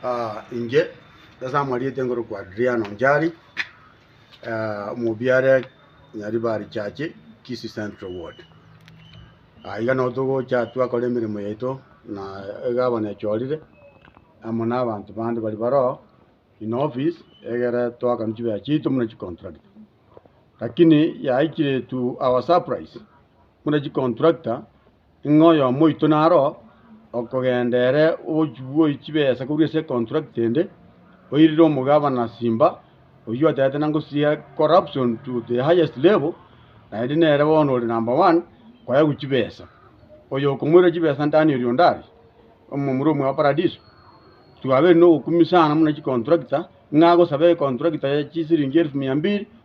Ah, inche ase amarieta ngorokwa Adriano Njari, ah, omobiare Nyaribari Chache, Kisii Central Ward. Ah, iga nabo togocha twakora emeremo yaito na egavana echorire amo na abanto bande bari baroo in office egere twakanwa chibesa chiaito buna chicontractor. Lakini yaikire to our surprise, buna chicontractor Ng'a oyomo oito naro okogenda ere ogochigwoi chibesa korwa ase econtract ende, oirire omogabana Simba, oyio atagete nangosiria corruption to the highest level, naende nere bono ore number one koewa chibesa. Oyo okomoira chibesa ndani oria onde aria, omomura omwe bwa paradiso. Twabeire nogokumia sana buna chicontractor, ng'a agosaba econtractor ya chisiringi elfu mia mbiri.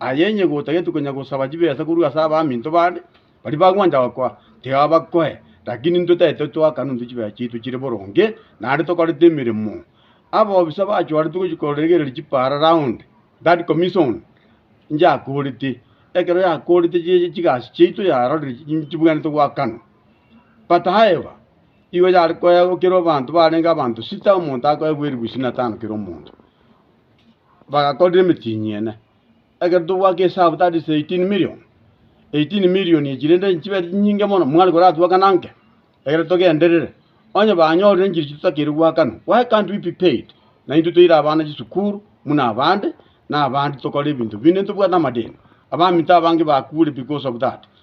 Aye inye gotageti konya gosaba chibesa korwa ase abaminto bande, baria bagwancha gokoa, tiga bakoe, lakini intwe taitwe twakana intwe chibesa chiaito chire boronge, naende tokorete emeremo. Ababisa bachwaretwe gochia koregereria chipaara round that commission, inche akorete. Ekero yakorete chi- chigasi chiaito yarorire chi- chi- chibwenerete goakana. But however, igo yare koegwa kera abanto barenge abanto sita omonto akoegwa eribuyu ishirini na tano kera omonto. bagakorera emetienyi ene. Ekero tobwate esabu that is 18 million, 18 million echi rende nchibere chinyinge mono mwana koratwe akana anke ekero togenderere. Onye banyorire nchiri echi totakeire goakanwa why can't we be paid? Na intwe toire abana chisukuru buna abande, na abande tokore ebinto binde ntobwate amadeni. Abaminto abange bakure because of that.